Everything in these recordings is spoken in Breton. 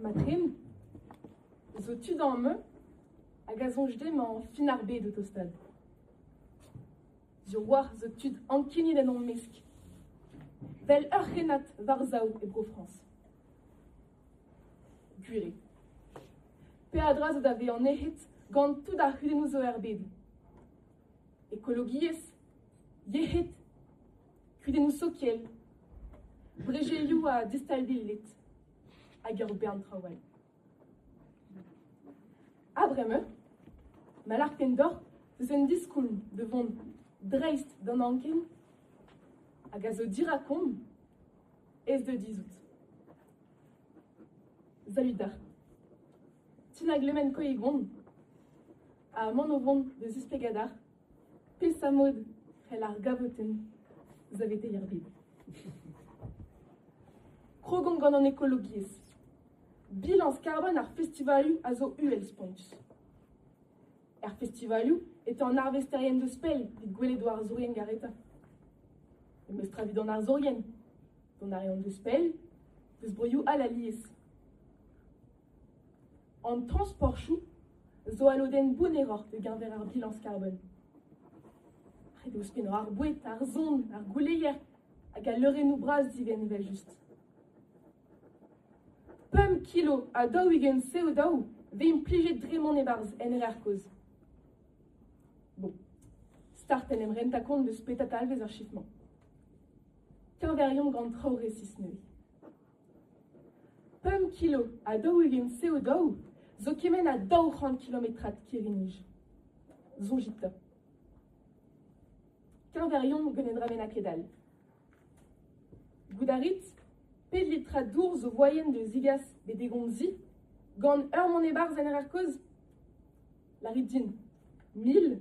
Mat-ken zo tu damañ hag a soñj dezhañ fin ar bed o tostaat. Diorroac'h zo tud ankeniet en o mesk, vel ur c'hrennad war sav e Bro-Frañs. Gwir eo. Peadra zo da vezañ nec'het gant tout ar c'hudennoù zo er bed. Ekologiezh, yec'hed, kudennoù sokial, bolezioù ha distabiled hag ur bern traoù all. Ha bremañ, ma larken deoc'h eus un diskoulm da vont dreist d'an anken hag a zo dirakon ez da dizhout. Salut da. Ti na glemen koe gont ha mont o vont da zisplegañ Peseurt mod c'hell ar gavotenn saveteiñ ar bed ? Krogan gant an ekologiezh. Bilañs karbon ar festivalioù a zo uhel-spontus. Er festivalioù e teu an arvesterien deus pell evit gwelet o arzourien garetañ. E meus tra evit an arzourien. Dont a reont deus pell, deus broioù all alies. An transportoù zo al lodenn bounneroc'h da-geñver ar bilañs karbon. Ret eo ouzhpennañ ar boued, ar son, ar gouleier hag al leurennoù bras divent evel-just. Pemp kilo ha daou-ugent CO2 vez implijet dre mont e-barzh en rer kozh. Bon, start en em rentañ kont deus petra talvez ar chif-mañ. Teñveriomp gant traoù resis neuze. Pemp kilo ha daou-ugent CO2 zo kement ha daou c'hant kilometrad kirri-nij. Soñjit 'ta. Keñveriomp gant un dra bennak ket-all. Goût a rit pet litra dour zo voaien da zigas bet d'e gomzi gant ur mont e-barzh en rer kozh? Lârit din. Mil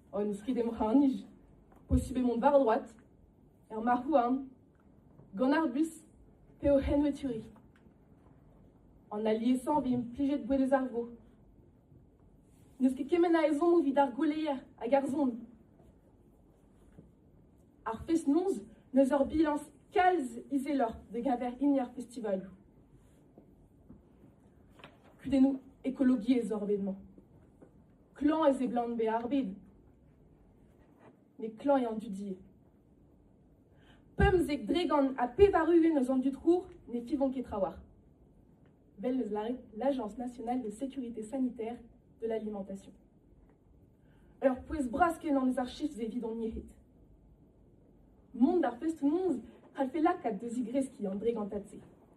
en eus ket em c'harr-nij. Posubl eo mont war droad, er marc'h-houarn, gant ar bus pe o c'henweturiñ. An aliesañ a vez implijet gwell eus ar vro. N'eus ket kement a ezhommoù evit ar gweleier hag ar son. Ar fest-noz n'eus ur bilañs kalz izeloc'h da-geñver hini ar festivalioù. Kudennoù ekologiezh oc'h bet mañ. klañv e seblant bezañ arbed. Met klañv eo an dud ivez. Pemzek, dregont ha pevar-ugent eus an dud c'hour ne fivont ket trawalc'h. Vel eus l'Agence nationale de sécurité sanitaire de l'alimentation. Ur pouez bras-kenan eus ar chistr evit hon yec'hed. Mont d'ar festoù-noz c'hallfe lakaat da zigreskiñ an dregantad-se.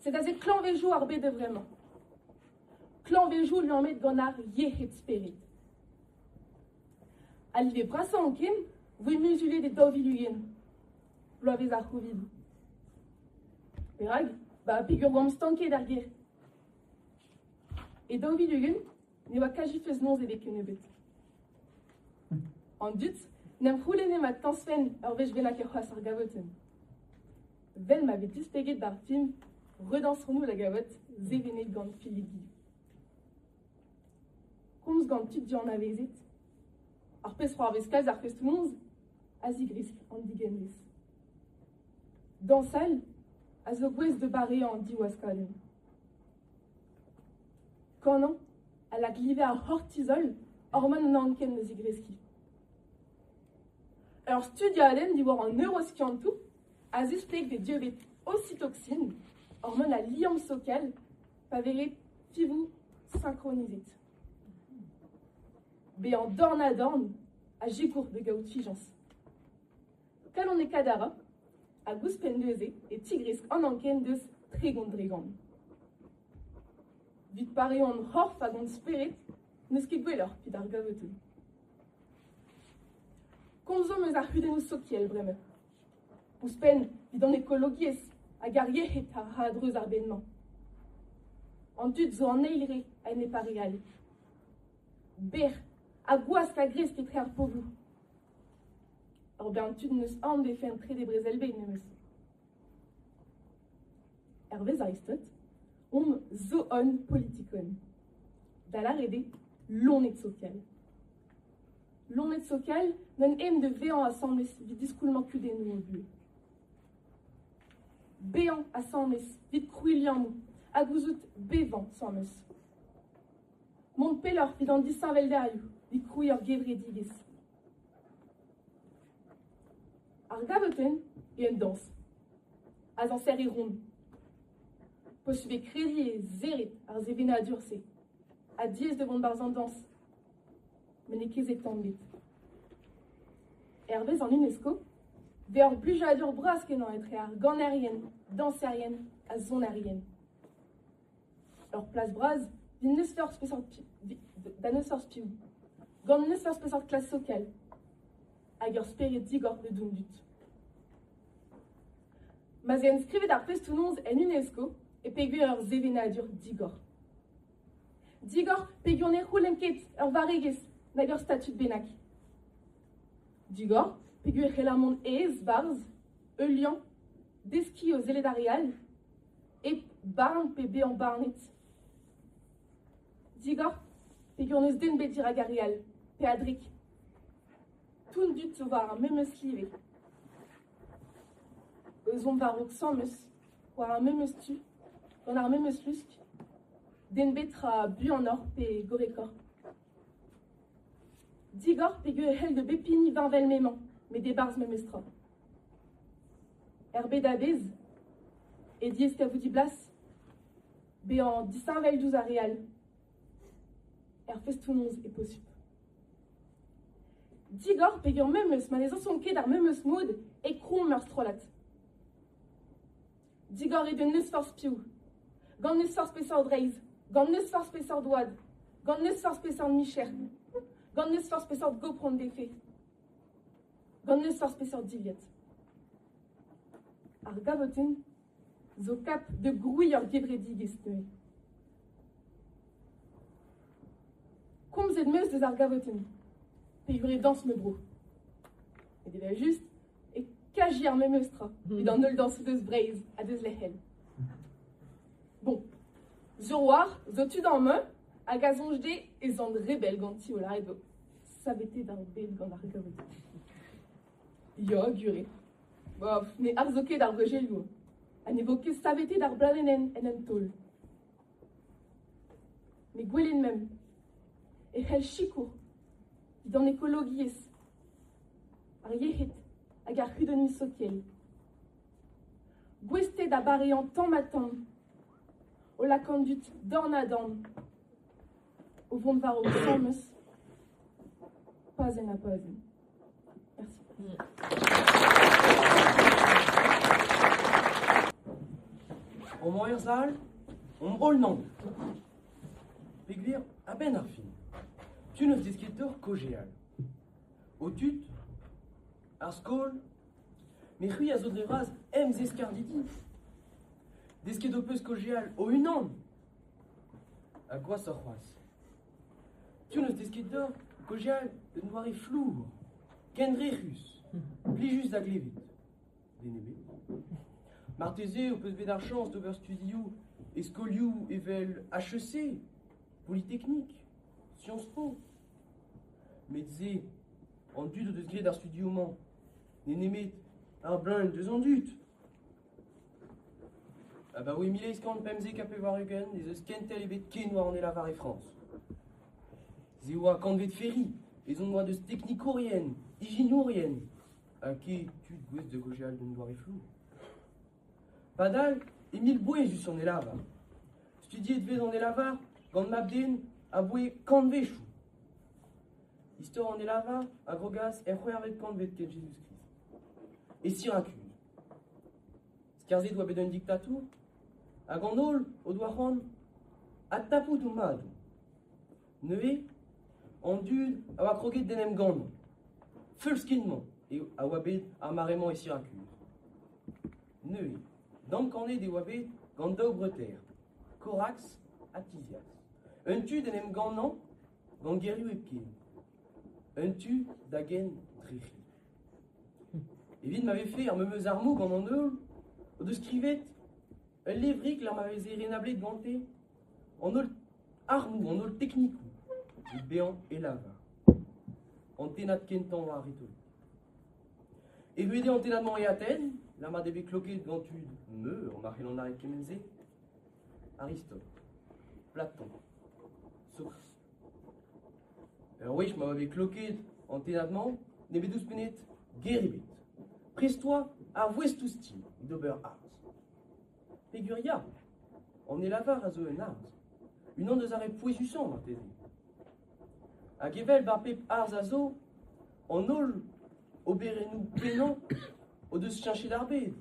Sed aze klañvezioù ar bed a-vremañ. Klañvezioù liammet gant ar yec'hed-spered. Al live brasañ anken voe muzulet e daou vil ugent, bloavezh ar C'hovid. Perak ba peger oamp stanket ar gêr. E daou vil ugent ne oa kaji feus noz ebet kennebeut. An dud n'em c'houlenne ma tañsfen ur wech bennak er c'has ar gavotenn. Vel ma vez displeget d'ar film, redañsonoù da gaout sevenet gant Fellidi. Komz gant tud dianavezet, ar pezh-c'hoarvez kalz ar festoñs a zigresk an digenvez. Dañsal a zo gouest da bareañ an diwaskadenn. Kanañ a lak live ar c'hortizol orman an anken da zigreskiñ. Ur studiadenn diwar an neuroskiantoù a-zisteg d'e dieubiñ ocytoksin, hormon al liamm sokel, pa vez ret fivoù synchronisit. Bezañ dorn-ha-dorn a sikour da gaout fijañs. Kalon e kadara hag ouzhpenn neuze e tigresk an anken deus tregont-dregont. Vit pareont c'horf hag hon spered n'eus ket gwelloc'h pit ar gavetenn. Komzomp eus ar c'hudennoù sokial bremañ. Ouzhpenn evit an ekologiezh hag ar yec'hed a ra a-dreuz ar bed-mañ. An dud zo an eil re a-enep ar re all. Bec'h ha gwask a gresk etre ar pobloù. Ur bern tud n'eus aon d'e fe'n trede Brezel-bed memes. Hervez Aristot omp zo-on politikon. Da lâret eo lonet sokial. Loened sokial n'en aent da vezañ asambles evit diskoulmañ kudennoù o buhez. Bezañ asambles evit krouiñ liammoù ha gouzout bevañ asambles. Mont pelloc'h evit an disheñveldalioù evit krouiñ ur gevredigezh. Ar gavotenn eo an dañs, azañser e ron. Peus ivez krediñ e zerret ar sevenadur-se ha diaes da vont barzh an dañs met n'eo ket bet tamm ebet. Hervez an UNESCO eo ur blijadur bras-kenañ etre ar ganerien, dañserien ha sonerien. Ur plas bras din n'eus forzh peseurt pi- da n'eus forzh piv, gant n'eus forzh peseurt klas sokel, hag ur spered digor da dont dut. Ma 'z eo skrivet ar festoù-noz en UNESCO e pegwir ur sevenadur digor. Digor peger ne c'houlenn ket ur varregezh nag ur statud bennak. Digor peger e c'heller mont aes 'barzh ul liamm, deskiñ o sellet ar re all, hep barn pe bezañ barnet. Digor peger n'eus den bet dirak ar re all, pe a-drek. Tout an dud zo war ar memes live. Ezhomm war-raok 'samm eus. war ar memes tu, gant ar memes lusk, den bet tra buanoc'h pe gorrekoc'h. Digor peger e c'hell da bep hini vinvel m'emañ, met e-barzh memes tra. Er bed a-bezh, e diez kavout blas, bezañ disheñvel diouzh ar re all. Er festoù-noz e posupl. Digor peger memes ma ne zañsont ket ar memes mod e kromm ar strollad. Digarit un euzh forzh piv. Gant n'eus forzh peseurt reizh, gant n'eus forzh peseurt oad, gant n'eus forzh peseurt micher, gant n'eus forzh peseurt gopron d'efe, gant n'eus forzh peseurt dilhad. Ar gavotenn zo kap da grouiñ ur gevredigezh neuze. Komzet 'm eus eus ar gavotenn, peogwir e dañs ma bro. Met evel-just e kaji ar memes tra evit an holl dañsoù deus Breizh ha deus lec'hel. Bon, zo war, zo tu d'an me, hag a soñj dezhe ez an rebel ganti o lâret vo savetet ar bed gant ar gaout. Ya, gure. Bof, ne arzo ket ar brejelioù. Ha ne vo ket savetet ar bladenn en un taol. Ne gwelet memp e c'hell sikour evit an ekologiezh, ar yec'hed hag ar c'hudenniñ sokial. Gouested a bareañ tamm-ha-tamm, o lakaat an dud dorn-ha-dorn. o vont war ho traoñs pazenn ha pazenn. Romañ er sal, hon roll-naon. Pegwir, a-benn ar fin, tu n'eus desket deoc'h kaozeal. Ho tud, ar skol, me c'hwi a zo dre vras em zeskardidi. Desket ho peus kaozeal o-unan Ha gwashoc'h c'hoazh, tu n'eus deskiñ deoc'h gaozeal d'un doare flour, kendrec'hus, plijus da glevet. Den ebet. Marteze ho peus bet ar chañs d'ober studioù e skolioù evel HEC, Polytechnique, Sciences Po. Met se, an dud o deus graet ar studioù-mañ n'eo nemet ar bleuñv deus an dud. Abaoe mil eizh kant pemzek ha pevar-ugent ez eus kentel ebet ken war an helavar e Frañs. Se a oa kantved Ferry, ezhomm oa deus teknikourien, ijinourien, ha ket tud gouest da gaozeal d'un doare flour. Padal e mil bouez diouzh an helavar. Studiet e vez an helavar gant mab-den aboe kantvezhioù. Istor an helavar a grogas er c'hwec'hvet kantved kent Jezuz-Krist. E Sirakus. Skarzhet oa bet un diktatour hag an holl o doa c'hoant adtapout o madoù. Neuze an dud a oa kroget d'en em gannañ. Feulskit-mañ eo a oa bet ar mare-mañ e Sirakus. Neuze damkanet e oa bet gant daou breutaer, Korax ha Tizias. Un tu d'en em gannañ gant gerioù hepken, un tu da gen dre c'hi. Evit ma vefe ar memes armoù gant an holl o deus skrivet ul levrig lec'h ma veze renablet gante an holl armoù, an holl teknikoù evit bezañ e lavar. An tennad kentañ war ar retorik. Evit eo an tennad-mañ e Aten, lec'h ma eo bet kloket gant tud meur ma c'hellont lâret kement-se. Aristote, Platon, Source. Ur wech ma oa bet klokaet an tennad-mañ, nemet ouzhpennet, ger ebet. Prest oa ar vouestoù-stil d'ober arz. Peger ya, an helavar a zo un arz, unan eus ar re pouezusañ marteze. Hag evel bar pep arz a zo, an holl oberennoù pennañ o deus cheñchet ar bed.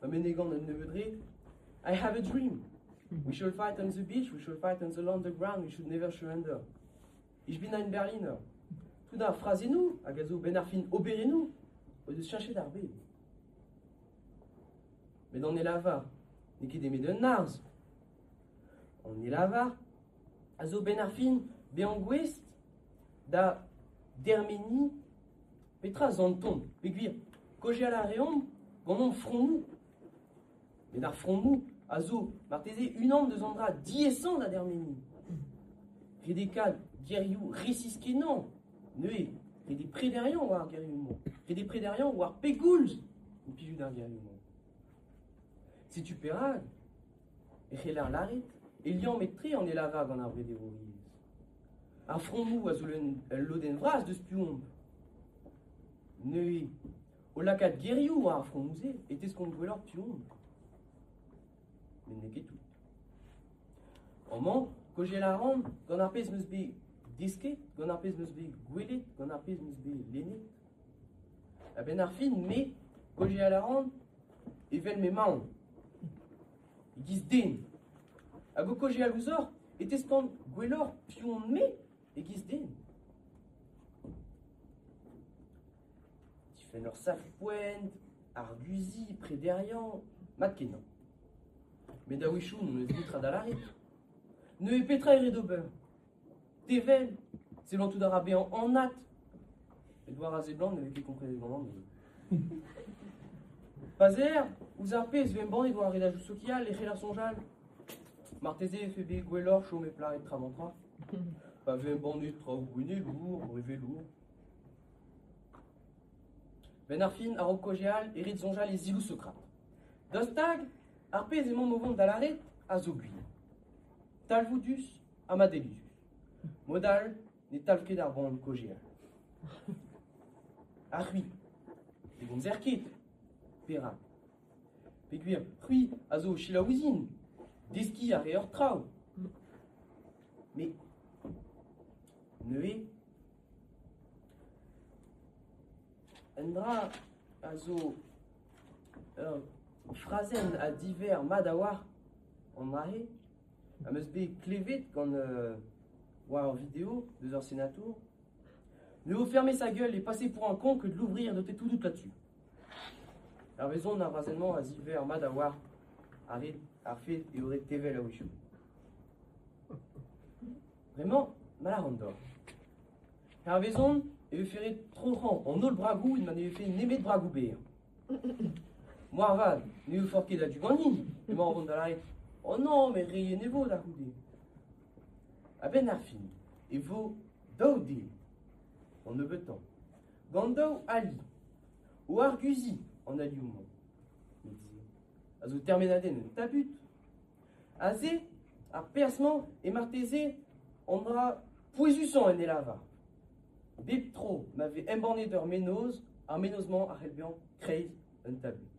Pa menegan an nebeud red, I have a dream. We shall fight on the beach, we shall fight on the underground, we should never surrender. Ijbinain Berliner. Tout ar frazennoù hag a zo benn ar fin oberennoù o deus cheñchet ar bed. Met an elavar n'eo ket emet un arz. An elavar a zo benn ar fin bezañ gouest da dermeniñ Petra z'an ton pegwir kaozeal a reomp gant hon fromoù ? Met ar fromoù a zo marteze unan deus an dra diaesañ da dermeniñ. Redekaat gerioù resis-kenañ, neuze ret eo prederiañ war ar gerioù-mañ, ret eo prederiañ war pegoulz implijout ar gerioù-mañ. Setu perak e c'heller lâret e liammet-tre an helavar gant ar brederouriezh. Ar frammoù a zo ul lodenn vras deus tu-hont. Neuze, o lakaat gerioù war ar frammoù-se e teskont gwelloc'h tu-hont. Met n'eo ket tout. Amañ, kojel a ran gant ar pezh 'm eus bet desket, gant ar pezh 'm eus bet gwelet, gant ar pezh 'm eus bet lennet, A-benn ar fin, me, Polial a ran evel m'emaon, e-giz den, hag o kaozeal ouzhoc'h e teskan gwelloc'h piv on-me e-giz den. Difenn ur sacr poent, arguziñ, prederiañ, mat-kenañ. Met a-wechoù n'on eus netra da lâret. Neuze petra e rit ober ? Te 'vel, sellantout a ra bezañ anat. Met war a seblant ne vez ket komprenet ganin. Pa 'z aer ouzh ar pezh 'vez embannet war ar redajou sokial e c'heller soñjal. Marteze e vefe bet gwelloc'h chom hep lâret travant-tra. Pa vez embannet traoù gouennelour, brevelour. Benn ar fin, a-raok kaozeal, e rit soñjal e zivout Sokrat. Daoust hag ar pezh emaomp o vont da lâret a zo gwir. Talvoudus, Ha ma delij. Mod all ne talv ket ar boan kaozeal. Ha c'hwi, ne gomzer ket ? Perak ? Peogwir c'hwi a zo o selaou ouzhin. Deskiñ a reoc'h traoù. Me. Neuze. Un dra a zo ur frazenn a diverr mat a-walc'h an dra-se. am eus bet klevet gant euh, war ur video deus ur senatour. Ne vo fermé sa gueule et passez pour un con que de l'ouvrir de tes tout dout là-dessus. Ar vezon ar brazennement a ziver mat a oar ar red ar fed eo ret tevel a-wechou. Vraiment, mal an dor. Ar vezon e vefe ret troc'hañ an holl bragoù ed ma ne vefe nemet bragoù berr. Moarvat ne oufen ket a-du ganin emañ o vont da lâret oh non met re yen e vo da c'houde. A-benn ar fin e vo daou den, an nebeutañ, gant daou ali, o arguziñ an alioù-mañ, met a zo termenadenn un tabut, Aze, ar perzh-mañ, eo marteze an dra pouezusañ en e lavar. Bep tro ma vez embannet ur mennozh, ar mennozh-mañ a c'hell bezañ kreiz un tabut.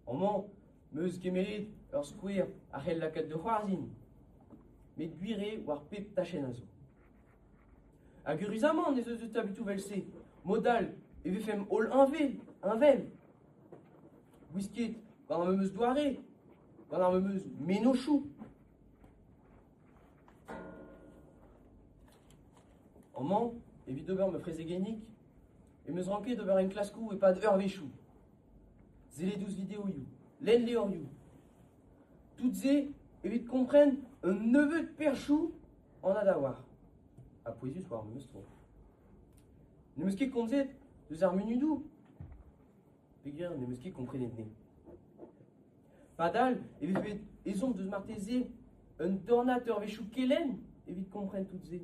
Amañ m'eus kemeret ur skouer a c'hell lakaat da c'hoarzhin met gwir eo war pep tachenn a zo. Hag eüruzamant ez eus eus taboutoù evel-se, mod all e vefemp holl heñvel, heñvel. Gwiskiet gant ar memes doare, gant ar memes mennozhioù. Amañ, evit ober ma frezegennig, em eus ranket ober enklaskoù e-pad eurvezhioù. Sellet ouzh videoioù, lenn levrioù. Tout se evit kompren un nebeud perchoù anat a-walc'h ha pouezus war memes tro. N'em eus ket komzet deus ar munudoù Pegwir n'em eus ket komprenet-ne. Padal e vez bet ezhomm deus marteze un dornad eurvezhioù kelenn evit kompren tout-se.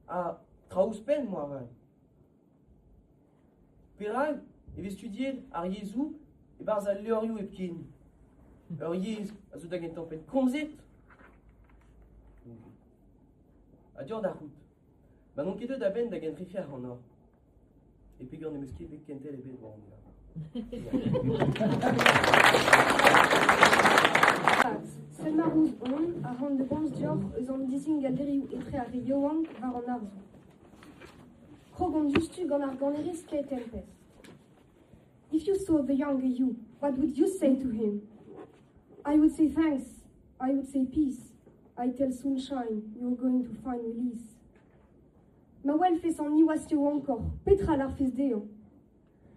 Ha traoù ouzhpenn moarvat. Perak e vez studiet ar yezhoù e-barzh al levrioù hepken ur yezh a zo da gentañ penn komzet ha deoc'h da c'hoût ma n'on ket deuet a-benn da gentrifiañ ac'hanoc'h e peger n'em eus ket bet kentel ebet war an Pad, Sent Marmouz on a ran da gomz deoc'h eus an dizingalderioù etre ar re yaouank war an arzoù. Krog on diouzhtu gant ar ganerez Kate Tempest. If you saw the younger you, what would you say to him? I would say thanks. I would say peace. I tell Sunshine, you're going to find release. Ma welfez an niwazh yaouankoc'h, petra larfez dezhañ?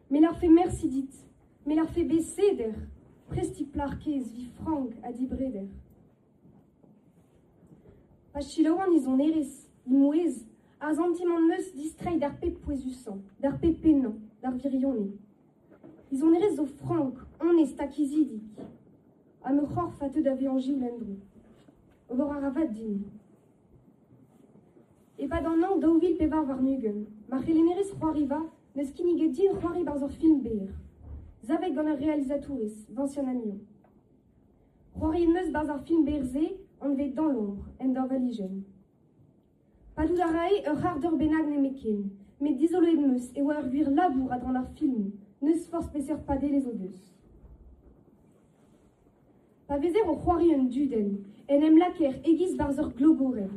Me larfe mersi dit, me larfe bet seder, prestiñ plac'h kaezh vi frank ha dibreder. Pa selaouan e sonerezh, e mouezh, ar santimant 'm eus distreiñ d'ar pep pouezusañ, d'ar pep pennañ, d'ar wirionez. E sonerezh zo frank, onest ha kizidik. Ha ma c'horf a teu da vezañ Gilles Endro. Ober a ra vat din. E-pad an hañv daou vil pevar warn-ugent, ma c'helennerez c'hoariva n'eus kinniget din c'hoari barzh ur film berr, savet gant ar realizatourez Vincent Agnon. C'hoari 'neus 'barzh ar film berr-se anvet Dañjer en ur relijion. Padout a rae ur c'harr-deur bennak nemetken, met dizoloet 'meus e oa ur gwir labour a-dran ar film, n'eus forzh peseurt padelezh o deus. Pa vezer o c'hoari un dudenn, en em lakaer e-giz 'barzh ur glogorenn.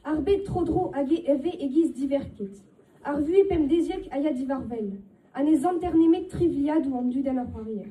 Ar bed tro-dro hag e vez e-giz diverket. Ar vuhez pemdeziek a ya diwar-wel, ha ne zanter nemet trivliadoù an dudenn a c'hoarier.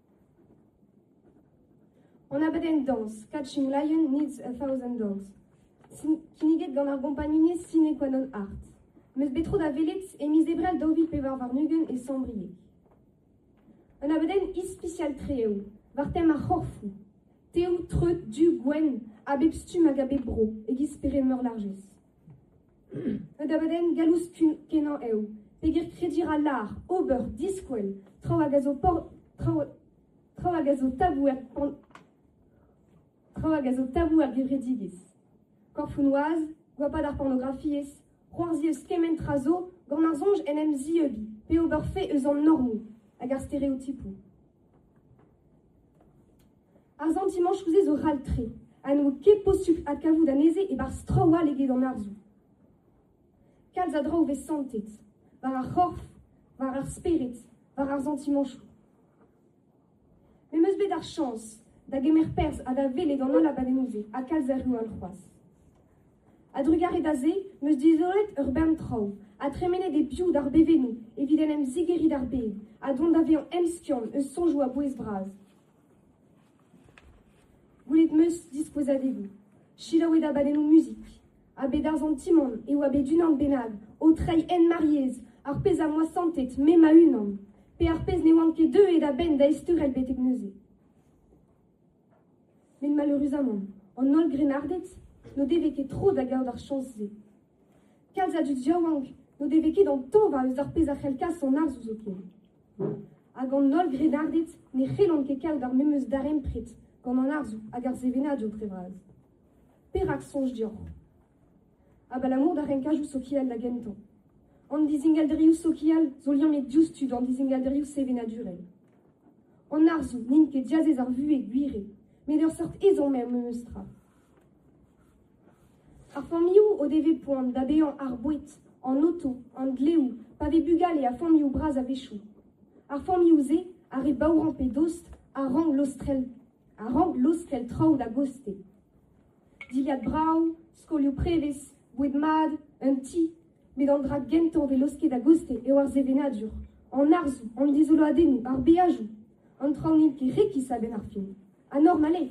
En abadenn dañs Catching Lion Needs a Thousand Dogs, kinniget gant ar gompagnunezh Sine Qua Non Art, 'meus bet tro da welet e miz Ebrel daou vil pevar warn-ugent e Sambrieg. Un abadenn ispisial-tre eo, war tem ar c'horfoù. Teoù treut du gwenn a bep stumm hag a bep bro, e-giz spered meurlarjez. Un abadenn gallouskenañ eo pegen krediñ ra lâr ober, diskwel, traoù hag a zo tabou er gevredigezh. Korfoù-noaz, goapad ar pornografiezh, c'hoarzhiñ eus kement tra zo gant ar soñj en em zieubiñ pe ober fe eus an normoù hag ar stereotipoù. Ar santimant chouzet zo ral-tre ha n'eo ket posupl adkavout anezhe e-barzh traoù all eget an arzoù. Kalz a draoù 'vez santet, war ar c'horf, war ar spered, war ar santimantoù. Me 'm eus bet ar chañs da gemer perzh ha da welet an holl abadennoù-se ha kalz a reoù all c'hoazh. A-drugarez da se 'm eus dizolet ur bern traoù, ha tremenet eo piv d'ar bevennoù evit en em zigeriñ d'ar bed, ha dont da vezañ emskiant eus soñjoù a-bouez-bras. Gwelet 'm eus dispozadegoù. Selaouet abadennoù muzik. A-bet ar santimant eo a-bet unan bennak o treiñ hent mar yezh, ar pezh am boa santet me ma-unan, pe ar pezh ne oan ket deuet a-benn da ezteurel betek neuze. Met maleureuzamant, an holl grennarded n'o devez ket tro da gaout ar chañs-se. Kalz a dud yaouank n'o devez ket antañva eus ar pezh a c'hell kas an arzoù zoken. Hag an holl grennarded ne c'hellont ket kaout ar memes darempred gant an arzoù hag ar sevenadur dre vras. Perak soñj deoc'h ? Abalamour d'ar renkadoù sokial da gentañ. An dizingalderioù sokial zo liammet diouzhtu d'an dizingalderioù sevenadurel. An arzoù n'int ket diazez ar vuhez, gwir eo, met ur seurt ezhomm eo memestra. Ar familhoù o devez poan da baeañ ar boued, an oto, an dleoù, pa vez bugale ha familhoù bras a-wechoù. Ar familhoù-se a re baourañ pe dost a rank lostrel, a rank lostrel traoù da gostez. Dilhad brav, skolioù prevez, boued mat, un ti. Met an dra gentañ 'vez laosket a-goste eo ar sevenadur, an arzoù, an dizoloadennoù, ar beajoù. An traoù n'int ket rekis a-benn ar fin. Ha normal eo.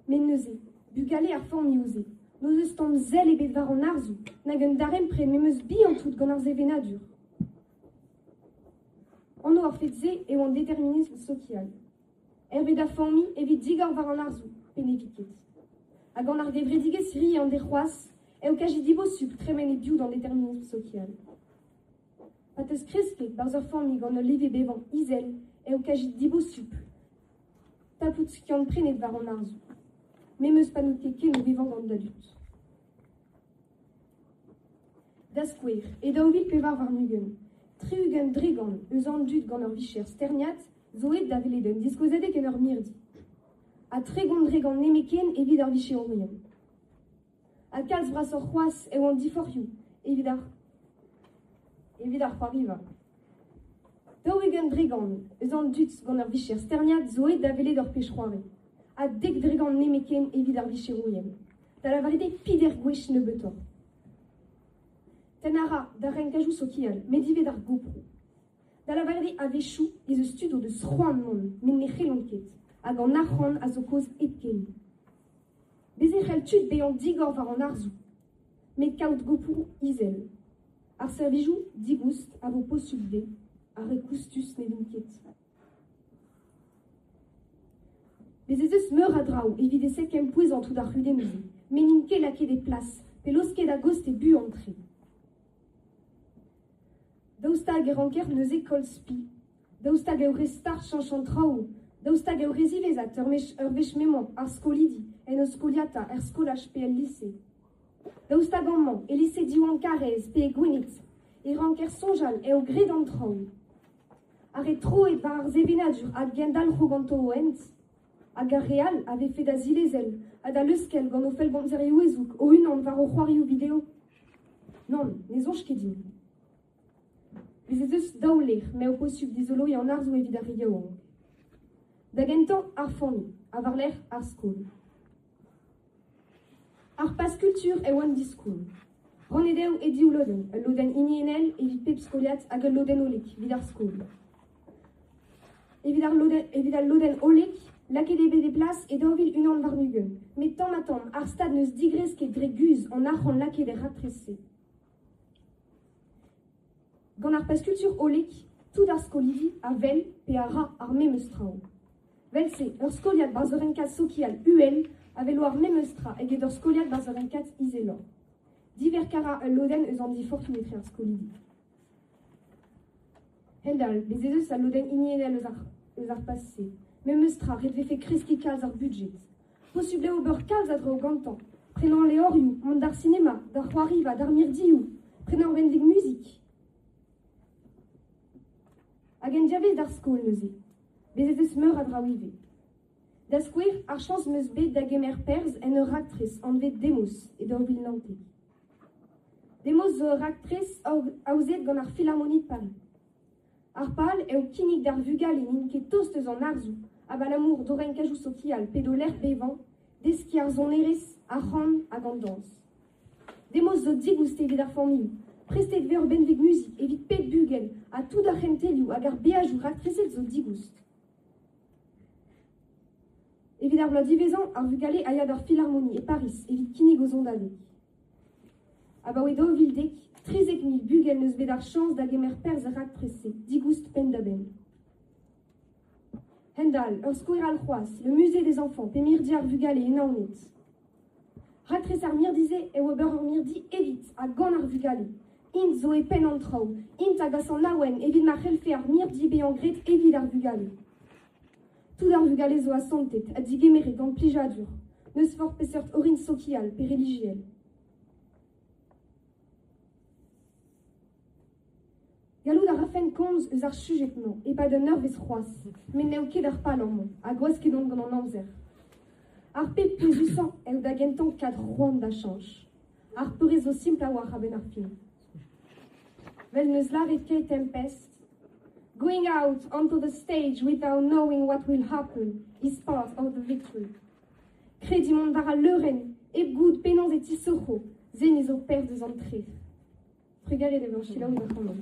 Met neuze, bugale ar familhoù-se n'eus eus tamm sell ebet war an arzoù nag un darempred memes bihan tout gant ar sevenadur. Anv ar fed-se eo an determinism sokial. hervez da familh evit digor war an arzoù, pe ne vit ket. Ha gant ar gevredigezh Ri an Derc'hoazh eo kaji dibosupl tremen e-biou d'an determinism sokial. Pa teuskresked barzh ur familh gant ul leve bevañ izel eo kaji dibosupl tapout skiant-prenet war an arzoù. Memes pa n'out ket ken o vevañ gant da dud. Da skouer, e daou vil pevar warn-ugent, tri-ugent dregont eus an dud gant ur vicher sterniad zo aet da welet un diskouezadeg en ur mirdi. Ha tregont dregont nemetken evit ar vicherourien. Ha kalz brasoc'h c'hoazh eo an diforc'hioù evit ar evit ar c'hoariva. Daou-ugent dregont eus an dud gant ur vicher sterniad zo aet da welet ur pech-c'hoari. Ha dek dregont nemetken evit ar vicherourien. Da lavaret eo fider gwech nebeutoc'h. Tenn a ra d'ar renkajoù sokial, met ivez d'ar goproù. Da lavaret eo a-wechoù ez eus tud o deus c'hoant mont met ne c'hellont ket hag an arc'hant a zo kaoz hepken. Bez' e c'hell tud bezañ digor war an arzoù met kaout gopoù izel. Ar servijoù digoust a vo posubl dezhe ha re koustus ne vint ket. Bez' ez eus meur a draoù evit e sekempouezañ tout ar c'hudennoù-se met n'int ket lakaet e plas pe laosket a-gost e buan-tre. Daoust hag e ranker neuze koll spi ? Daoust hag eo re start cheñch an traoù ? Daoust hag eo re ziwezhat ur wech m'emañ ar skolidi en o skoliata er skolaj pe el lise ? Daoust hag amañ, e lise Diwan Karrez pe e Gwened, e ranker soñjal eo graet an traoù ? Ha re tro eo war ar sevenadur a gendalc'ho ganto o hent ? hag ar re all a vefe da zilezel ha da leuskel gant o fellgomzerioù ezoug o-unan war o c'hoarioù video ? Nann, ne soñj ket din. Bez' ez eus daou lec'h m'eo posubl dizoloiñ an arzoù evit ar re yaouank. Da gentañ, ar familh, ha war-lerc'h ar skol. Ar Paz-Kultur eo an diskoulm. Rannet eo e div lodenn, ul lodenn hiniennel evit pep skoliad hag ul lodenn hollek evit ar skol. Evit, ar lodenn, evit al lodenn hollek, lakaet eo bet e plas e daou vil unan warn-ugent, met tamm-ha-tamm ar stad n'eus digresk ket dre guzh an arc'hant lakaet er raktres-se. Gant ar pezh-kultur hollek, tout ar skolidi a wel pe a ra ar memes traoù. Vel-se, ur skoliad barzhonenkad sokial uhel a velo ar memes tra eget ur skoliad barzhonenkad izeloc'h. Diverkañ a ra ul lodenn eus an diforc'hioù etre ar skolidi. Hendall, bez' ez eus al lodenn hiniennel eus ar, eus ar paz-se. Memes tra, ret 'vefe kreskiñ kalz ar budjed. Posupl eo ober kalz a draoù gantañ, prenañ levrioù, mont d'ar sinema, d'ar c'hoariva, d'ar mirdioù, prenañ ur benveg muzik. Hag en diavez d'ar skol neuze. Bez' ez eus meur a draoù ivez. Da skouer, ar chañs 'm eus bet da gemer perzh en ur raktres anvet Demos e daou vil naontek. Demos zo ur raktres aozet gant ar Philharmonic Paris. Ar pal eo kinnig d'ar vugale n'int ket tost eus an arzoù abalamour d'o renkadoù sokial pe d'o lec'h bevañ, deskiñ ar sonerezh, ar c'han hag an dañs. Demoz zo digoust evit ar familh. Prestet vez ur benveg muzik evit pep bugel ha tout ar c'hentelioù hag ar beajoù raktreset zo digoust. Evit ar bloaz diwezhañ, ar vugale a ya d'ar filarmoni e Pariz evit kinnig o zondadeg. Abaoe daou vil dek, trizek mil bugel 'neus bet ar chañs da gemer perzh er raktres-se digoust penn-da-benn. Hend-all, ur skouer all c'hoazh, le musée des enfants, pe mirdi ar vugale e Naoned. Raktres ar mirdi-se eo ober ur mirdi evit ha gant ar vugale. Int zo e penn an traoù, int a gas an awen evit ma c'hellfe ar mirdi bezañ graet evit ar vugale. Tout ar vugale zo asantet ha digemeret gant plijadur, n'eus forzh peseurt orin sokial pe relijiel. Gallout a rafen komz eus ar sujed-mañ e-pad un eurvezh c'hoazh, met n'eo ket ar pal amañ, ha gwasket on gant an amzer. Ar pep pouezusañ eo da gentañ kad c'hoant da chañch. Ar peurrest zo simpl a-walc'h a-benn ar fin. Well, n'eus lâret ket tempest. Going out onto the stage without knowing what will happen is part of the victory. Krediñ mont war al leurenn hep goût penaos e tisoc'ho, seniñ zo perzh eus an tref. Trugarez da vezañ selaouit ac'hanomp.